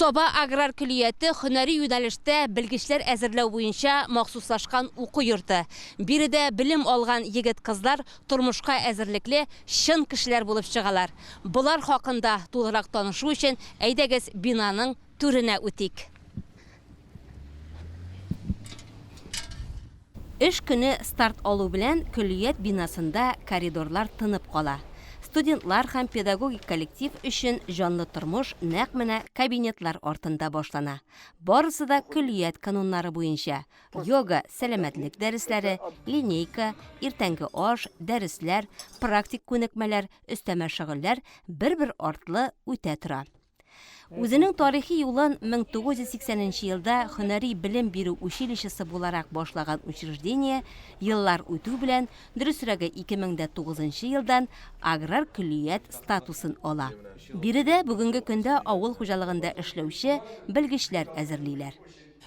Саба аграр көлияте хөнәри юнәлештә белгечләр әзерләү буенча махсуслашкан уку йорты. Биредә белем алган егет-кызлар тормышка әзерлекле чын кешеләр булып чыгалар. Болар хакында тулырак танышу өчен әйдәгез бинаның түренә үтик. Эш көне старт алу белән көллият бинасында коридорлар тынып кала. Студентлар һәм педагогик коллектив өчен җанлы тормыш нәкъ менә кабинетлар артында башлана. Барысы да көллият кануннары буенча, йога, сәламәтлек дәресләре, линейка, иртәнге аш, дәресләр, практик күнекмәләр, өстәмә шөгыльләр бер-бер артлы үтә тора. Үзенең тарихи юлын 1980 елда хөнәри белем бирү училищесы буларак башлаган учреждение еллар үтү белән, дөресрәге 2009 елдан аграр көллият статусын ала. Биредә бүгенге көндә авыл хуҗалыгында эшләүче белгечләр әзерлиләр.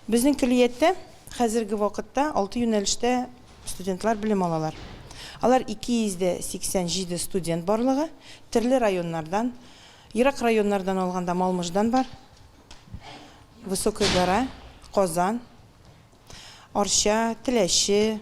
Безнең көллияттә хәзерге вакытта алты юнәлештә студентлар белем алалар. Алар 287 студент барлыгы, терле районнардан, ерак районнардан алганда Малмыждан бар, Высокой Гора, Казан, Арча, Теләче,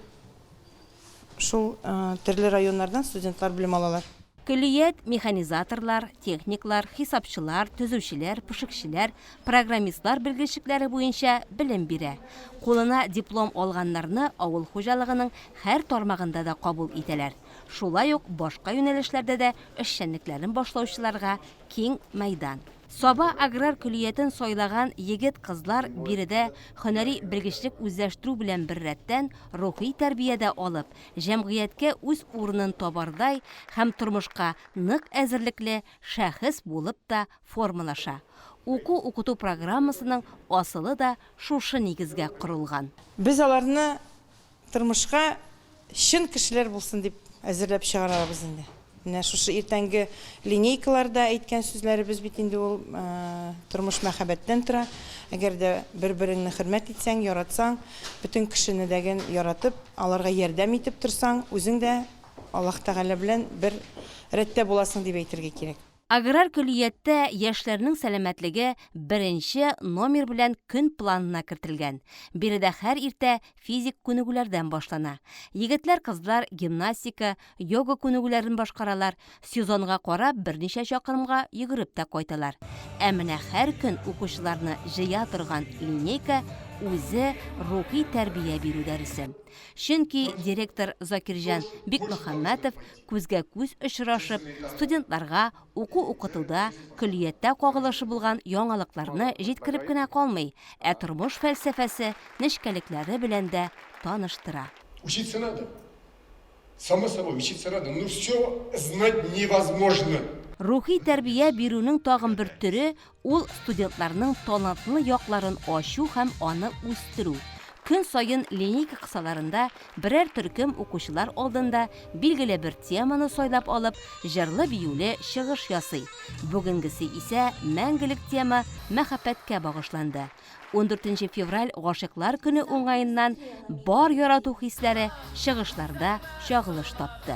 Шул төрле районнардан студентлар белем алалар. Көллият, механизаторлар, техниклар, хисапчылар, төзүчеләр, пешекчеләр, программистлар белгечлекләре буенча белем бирә. Кулына диплом алганнарны авыл хуҗалыгының һәр тармагында да кабул итәләр. Шулай ук башка юнәлешләрдә дә эшчәнлекләрен башлаучыларга киң мәйдан. Саба аграр көллиятен сайлаган егет-кызлар биредә һөнәри белгечлек үзләштерү белән беррәттән, рухи тәрбия дә алып, җәмгыятькә үз урынын табардай һәм тормышка нык әзерлекле шәхес булып та формалаша. Уку-укыту программасының асылы да шушы нигезгә корылган. Без аларны Тормышка чын кешеләр булсын дип әзерләп чыгарабыз инде. Менә шушы иртәнге линейкаларда әйткән сүзләребез бит инде ул тормыш мәхәббәттән тора. Әгәр дә бер-береңне хөрмәт итсәң, яратсаң, бөтен кешене дәген яратып, аларга ярдәм итеп торсаң, үзең дә Аллаһ Тәгалә белән бер рәттә буласың дип әйтергә кирәк. Аграр көллияттә яшьләрнең сәламәтлеге беренче номер белән көн планына кертелгән. Биредә һәр иртә физик күнегүләрдән башлана. Егетләр-кызлар гимнастика, йога күнегүләрен башкаралар, сезонга карап берничә чакрымга йөгереп тә кайталар. Ә менә һәр көн укучыларны җыя торган линейка үзе рухи тәрбия бирү дәресе. Чөнки директор Закирҗан Бикмөхәммәтов күзгә күз очрашып, студентларга уку укытуда, көллияттә кагылышы булган яңалыкларны җиткереп кенә калмый, ә тормыш фәлсәфәсе, нечкәлекләре белән дә таныштыра. Учиться надо. Само собой, учиться надо, но всё знать невозможно. Рухи тәрбия бирүнең тагын бер төре, Ул студентларның талантлы якларын ачу һәм аны үстерү. Көн саен линейка кысаларында берәр төркем укучылар алдында билгеле бер теманы сайлап алып, җырлы-биюле чыгыш ясый. Бүгенгесе исә мәңгелек тема Мәхәббәткә багышланды. Ундүртенче февраль Гашыйклар көне уңаеннан Бар ярату хисләре чыгышларда чагылыш тапты.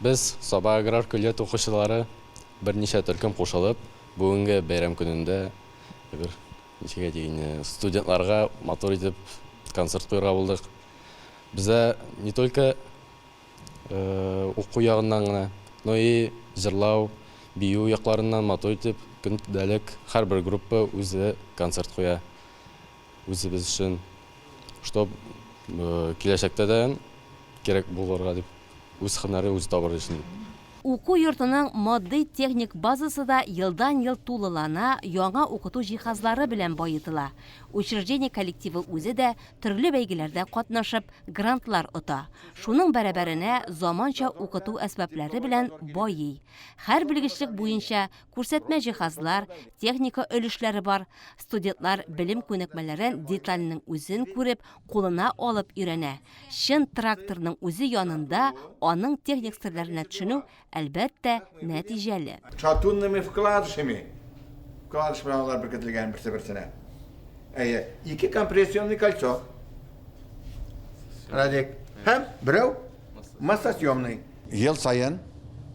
Без, Саба аграр көллият укучылары, берничә төркем кушылып, бүгенге бәйрәм көнендә бер ничек әйтик инде, студентларга матур итеп концерт куярга булдык. Бездә не только. Уку ягыннан гына, но и җырлау, бию якларыннан матур итеп, көндәлек һәрбер группа үзе концерт куя үзебез өчен. Чтоб киләчәктә дә кирәк булырга дип, үз һөнәрен үзе табыр өчен. Уку йортының матди-техник базасы да елдан-ел тулылана, яңа укыту җиһазлары белән баетыла. Учреждение коллективы үзе дә төрле бәйгеләрдә катнашып, грантлар ота. Шуның бәрабәренә заманча укыту әсбаплары белән байый. Хәр белгечлек буенча күрсәтмә җиһазлар, техника өлешләре бар. Студентлар белем күнекмәләрен детальнең үзен күреп, кулына алып өйрәнә. Чын тракторның үзе янында аның техник серләренә төшенү әлбәттә, нәтиҗәле. Чатунными вкладышами, вкладыш белән алар беркетелгән берсе-берсенә. Әйе, ике компрессионный кольцо. Радик. Һәм берәү массосъемный. Ел саен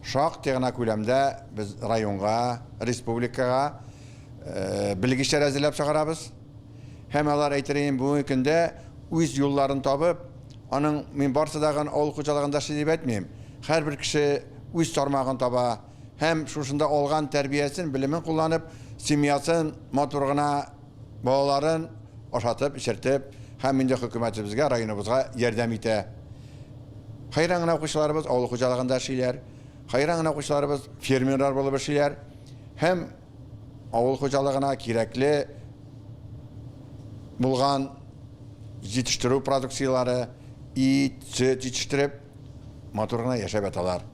шактый гына күләмдә без районга, республикага белгечләр әзерләп чыгарабыз. Һәм алар әйтереен бүгенге көндә үз юлларын табып, аның мин барсы да гын авыл хуҗалыгында эшли дип әйтмим, һәрбер кеше үз тармагын таба һәм шушында алган тәрбиясен, белемен кулланып, семьясын матур гына балаларын ашатып, эчертеп һәм инде хөкүмәтебезгә, районыбызга ярдәм итә. Хәйран гына укучыларыбыз авыл хуҗалыгында эшлиләр, хәйран гына укучыларыбыз фермерлар булып эшлиләр һәм, Авыл хуҗалыгына кирәкле булган җитештерү продукцияләре, ит, сөт җитештереп, матур гына яшәп яталар.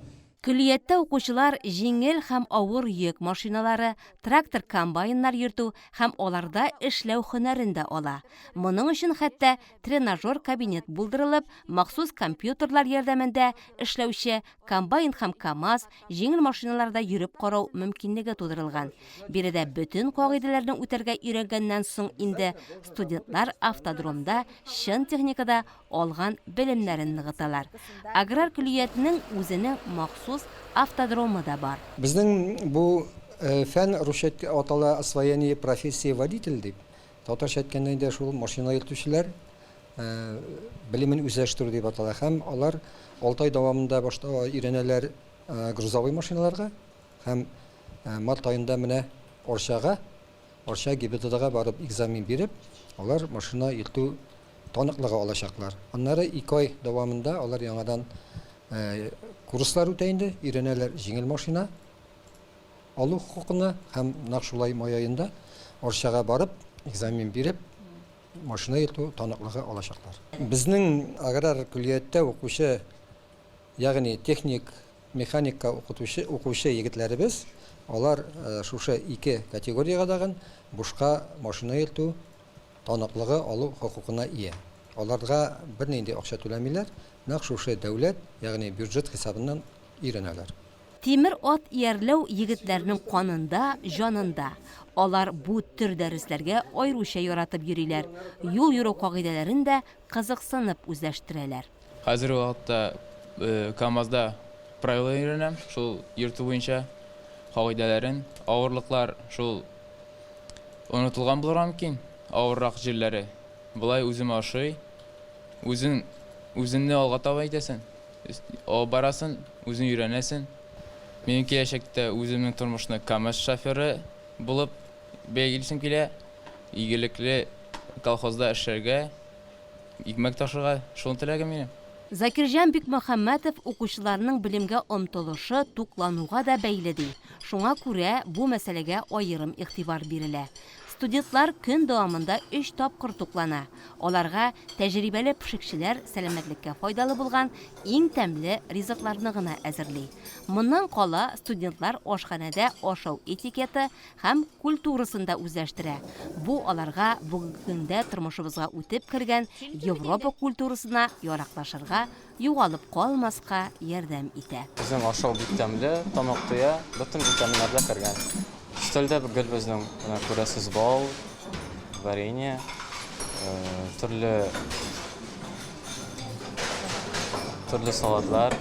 Көллияттә укучылар җиңел һәм авыр йөк машиналары, трактор-комбайннар йөртү һәм аларда эшләү һөнәрен дә ала. Моның өчен хәтта тренажер кабинет булдырылып, махсус компьютерлар ярдәмендә эшләүче, комбайн һәм КАМАЗ, җиңел машиналарда йөреп карау мөмкинлеге тудырылган. Биредә бөтен кагыйдәләрне үтәргә өйрәнгәннән соң инде студентлар автодромда чын техникада алган белемнәрен ныгыталар. Аграр көллиятенең үзенең махсус автодромы да бар. Безнең бу фән русча атала освоение профессии водитель дип. Татарча әйткәндә инде шул машина йөртүчеләр белемен үзләштерү дип атала һәм алар алты ай дәвамында башта өйрәнәләр грузовой машиналарга һәм март аенда менә Орчага, Орча ГИБДДга барып экзамен биреп, алар машина йөртү таныклыгы алачаклар. Аннары ике ай дәвамында алар яңадан курслар үтә инде, өйрәнәләр җиңел машина. алу хокукына һәм нәкъ шулай май аенда Арчага барып, экзамен биреп, машина йөртү таныклыгы алачаклар. Безнең аграр көллияттә укучы, ягъни техник, механикка укытучы, укучы егетләребез, алар шушы ике категориягә дагын бушка машина йөртү таныклыгы алу хокукына ия. Аларга бернинди акча түләмиләр, нәкъ шушы дәүләт, ягъни бюджет хисабыннан өйрәнәләр. Тимер ат иярләү егетләрнең канында, җанында. Алар бу төр дәресләргә аеруча яратып йөриләр, юл йөрү кагыйдәләрен дә кызыксынып үзләштерәләр. Хәзерге вакытта КАМАЗда правила өйрәнәм, шул йөртү буенча кагыйдәләрен. Авырлыклар шул онытылган булырга мөмкин, авыррак җирләре. Болай үземә ошый. Үзең үзеңне алга таба итәсең. Алып барасын, үзең өйрәнәсен. Минем киләчәктә үземнең тормышны камаз шоферы булып бәялгилсем килә. Игелекле колхозда эшләргә, икмәк ташырга, шуны теләгем минем. Закирҗан Бикмөхәммәтов укучыларның белемгә омтылышы туклануга да бәйле ди, шуңа күрә бу мәсьәләгә аерым игътибар бирелә. Студетлар көн дәвамында өч тапкыр туклана. Аларга тәҗрибәле пешекчеләр сәламәтлеккә файдалы булган иң тәмле ризыкларны гына әзерли. Моннан кала студентлар ашханәдә ашау этикеты һәм культурасын да үзләштерә. Бу аларга бүгенге көндә тормышыбызга үтеп кергән Европа культурасына яраклашырга югалып калмаска ярдәм итә. Безнең ашау бик тәмле, тамак туя, бөтен витаминнар да кергән. Өстәлдә гел безнең, менә күрәсез, бал, варенье, төрле төрле салатлар,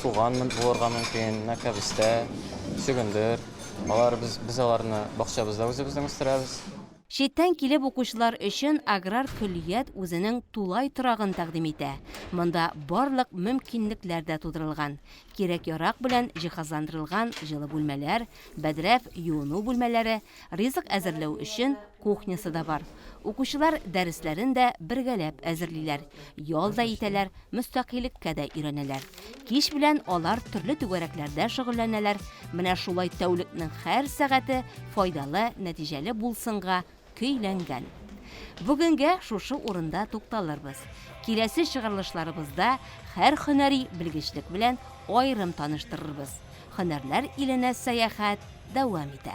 суган булырга мөмкин, менә кәбестә, чөгендер. Алар без без аларны бакчабызда үзебезнең үстерәбез. Читтән килеп укучылар өчен аграр көллият үзенең тулай торагын тәкъдим итә. Монда барлык мөмкинлекләр дә тудырылган. Кирәк-ярак белән җиһазландырылган җылы бүлмәләр, бәдрәф, юыну бүлмәләре, ризык әзерләү өчен кухнясы да бар. Укучылар дәресләрен дә бергәләп әзерлиләр, ял да итәләр, мөстәкыйльккә дә өйрәнәләр. Кич белән алар төрле түгәрәкләрдә шөгыльләнәләр, менә шулай тәүлекнең һәр сәгате файдалы, нәтиҗәле булсынга көйләнгән. Бүгенгә шушы урында тукталырбыз. Киләсе чыгарылышларыбызда һәр һөнәри белгечлек белән аерым таныштырырбыз. Һөнәрләр иленә сәяхәт дәвам итә.